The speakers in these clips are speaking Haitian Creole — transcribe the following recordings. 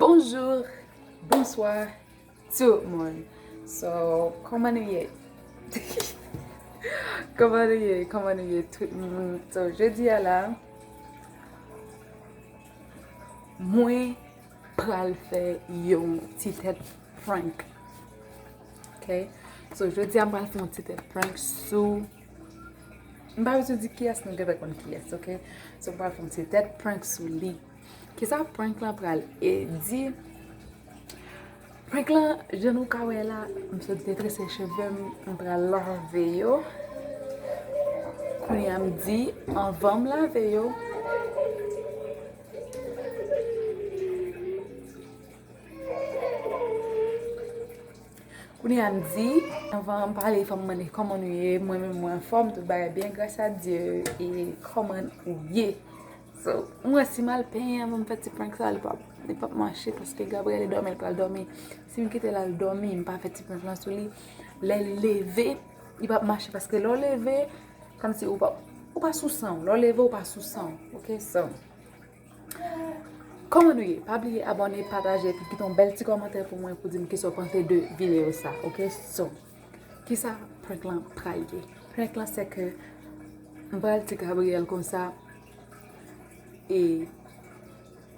Bonjour Bonsoir Tout moun So Koman nou ye? Koman nou ye? Koman nou ye tout moun? So jodi a la Mwen pral fè yon ti tèt prank Ok So jodi a m pral fè yon ti tèt prank sou M pa bezwen di kiyès nou gentan konn kiyès ok so m pral fè yon ti tèt prank sou li kisa prank lan pral di prank lan jan nou ka wè la m sot detrese cheve m m pral lave yo kounya m di anvan m lave yo Kounya m di anvan m pale fòm mande kòman nou ye mwen menm mwen anfòm tout bagay byen gras a Dye e kòman ou ye so m wè si m al penyen anvan m fè ti prank sa li pap li pap mache paske Gabriel li dòmi li pral dòmi si m kite l al dòmi m pa fè ti prank lan sou li lè l leve li pap mache paske lè w leve kòmsi ou pa ou pa sou 100 w lè w leve ou pa sou 100 w ok so. Kòman nou ye? Pa bliye abòne, pataje epi kite yon bèl ti kòmantè pou mwen pou di m kisa w panse de videyo sa ok So, kisa prank lan pral ye? Prank lan se ke m pral di Gabriel konsa e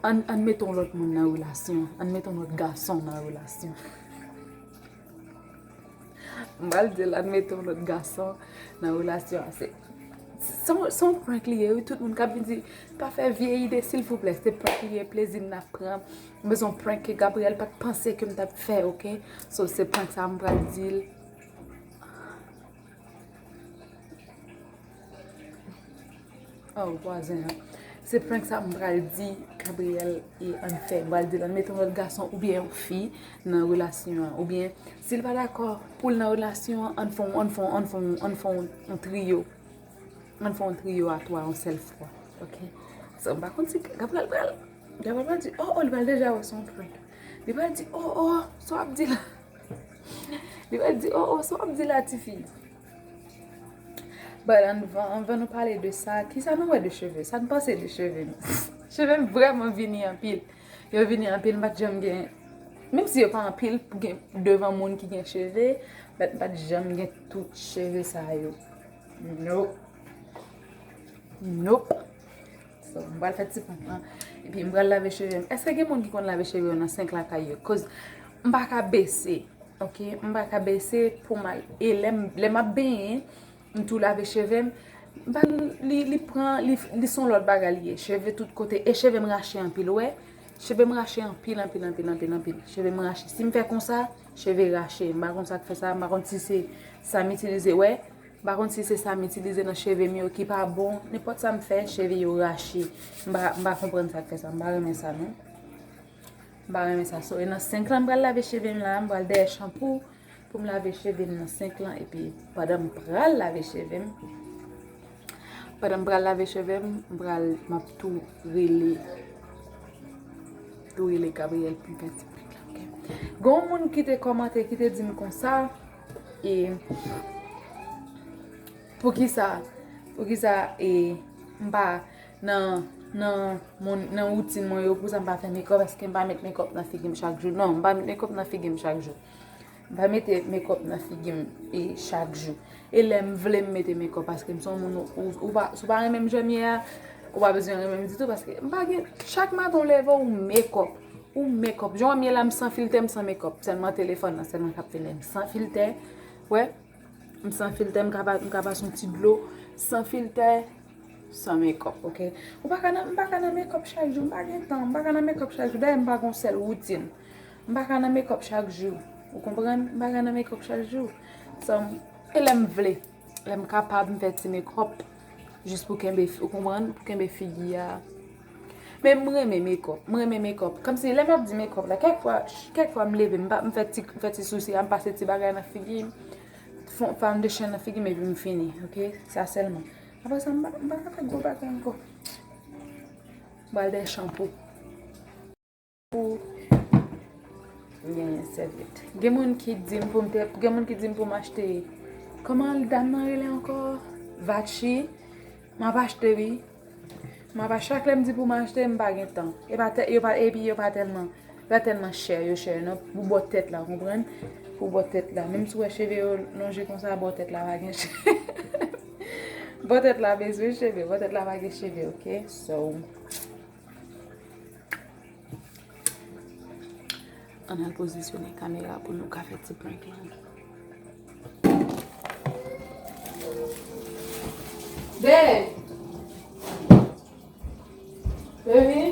ann mete yon lòt moun nan relasyon, ann mete yon lòt gason nan relasyon. M pral dil admete yon lòt gason nan relasyon an se se yon prank li ye wi tout moun kap vin di pa fè vye ide silvouplè se prank li ye plezi m nap pran men son prank ke Gabriel pat panse kem tap fè ok so se prank sa m pral dil. Oh vwazen an. Se prank sa m pral di Gabriel e ann fè. M pral di l ann mete yon lòt gason oubyen yon fi nan relasyon an. Oubyen si l pa dakò pou l nan relasyon an, ann fè yon trio. Ann fè yon trio a twa yon sèl fwa. Ok? So m pa konn si Gabriel pral. Gabriel pral di oh oh li pral deja wè se yon prank. Li pral di oh oh sa w ap di la. Li pral di oh oh sa w ap di la tifi. But anvan nou pale de sa, kisa nou wè de cheve, sa nou panse de cheve nou? Cheve m vreman vini anpil, yo vini anpil m pat janm gen, menm si yo pa anpil gen devan moun ki gen cheve, but m pat janm gen tout cheve sa yo. Nope. Nope. So m pral fè ti ponp lan epi m pral lave cheve m. Eske gen moun ki konn lave cheve yo nan senk lakay yo? Koz m pa ka bese ok, m pa ka bese pou m al e lè m ap benyen m tou lave cheve m li pran li son lòt bagay li ye cheve tout kote e cheve m rache anpil ou wè cheve m rache anpil anpil anpil anpil anpil cheve m rache si m fè konsa cheve rache m pa konn sa k fè sa m pa konn si se sa m itilize wè. M pa konn si se sa m itilize nan cheve m yo ki pa bon, nenpòt sa m fè, cheve yo rache. M pa, m pa konprann sa k fè sa. M pa renmen sa non. M pa renmen sa. So, e nan sink lan m pral lave cheve m la a. M pral dèyè chanpou pou m lave cheve m nan sink lan. E pi, pandan m pral lave cheve m, pandan m pral lave cheve m, m pral, m ap tou rele, tou rele Gabriel pou m fè ti prank la, oke? Gen yon moun ki te kòmante, ki te di m konsa. E poukisa poukisa e m pa nan nan woutin mwen yo poukisa m pa fè mekòp eske m pa met mekòp nan figi m chak jou non m pa met mekòp nan figi m chak jou m pa mete mekòp nan figi m e chak jou e lè m vle m mete mekòp paske m son moun ou pa sou pa renmen m jan m ye a ou pa bezwen renmen m ditou paske m pa gen chak maten w leve w mekòp Ou mekòp jan wèm ye la m san filtè m san mekòp sèlman telefòn nan sèlman kap fè lèm san filtè wè m san filtè m ka pa son ti dlo san filtè san mekòp ok m pa ka nan mekòp chak jou m pa gen tan m pa ka nan mekòp chak jou dayè m pa gon sèl woutin m pa ka nan mekòp chak jou ou konprann m pa ka nan mekòp chak jou e lèm vle. Lè m kapab m fè ti mekòp jis pou kenbe ou konprann pou kenbe figi a. Men m renmen mekòp, m renmen mekòp. Kòmsi lè m ap di mekòp la kèk fwa, kèk fwa m leve m pa m fè ti m fè ti sousi a m pase ti bagay nan figi m, fon foundation nan figi m epi m fini ok sa sèlman. Aprè sa m pa m pa ka fè gwo bagay ankò. M pral dè shanpou. Pou m genyen sèvyèt. Gen moun ki di m pou m te. Gen moun ki di m pou m achte. Kòman dam nan rele ankò? Vachi. M ap achte wi. M ap achte. Chak lè m di pou m achte, m pa gen tan. E pa tè. Yo pa. Epi yo pa tèlman. Yo pa tèlman chè. Yo chè nan. Pou bò tèt la. Ou konprann? Pou bò tèt la. Menm si ou wè cheve yo lonje konsa, bò tèt la pa gen cheve. Bò tèt la bezwen cheve. Bò tèt la pa gen cheve, ok? So. An al pozisyone kamera pou nou ka fè ti prank lan. Dè! Dè vini!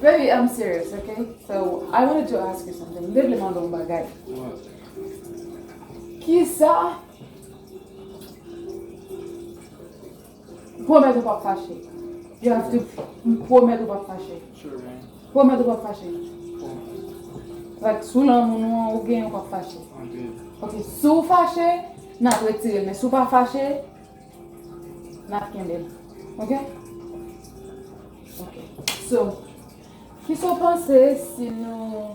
Baby, I'm serious, okay? So, I wanted to ask you something. Mwen vle mande yon bagay. Ki sa? Pwomèt ou pap fache. Jazz-T pwomèt ou pap fache. Pwomèt ou pap fache. Like sou lanmou nou an ou genyen ou pap fache. Ok si w fache n ap retire l men si w pa fache n ap kenbe l ok. Ok so kisa w panse si nou.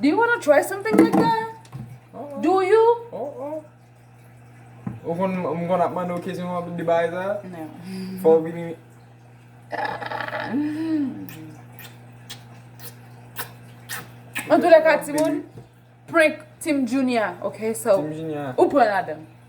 Do you wanna try something like that? Do you? Oh oh. Ou konn m konn ap mande w kesyon w ap di bagay sa? No. Fò w vini. Antoulèka timoun, prank Team Junia, ok? Team Junia. Ou pran ladan.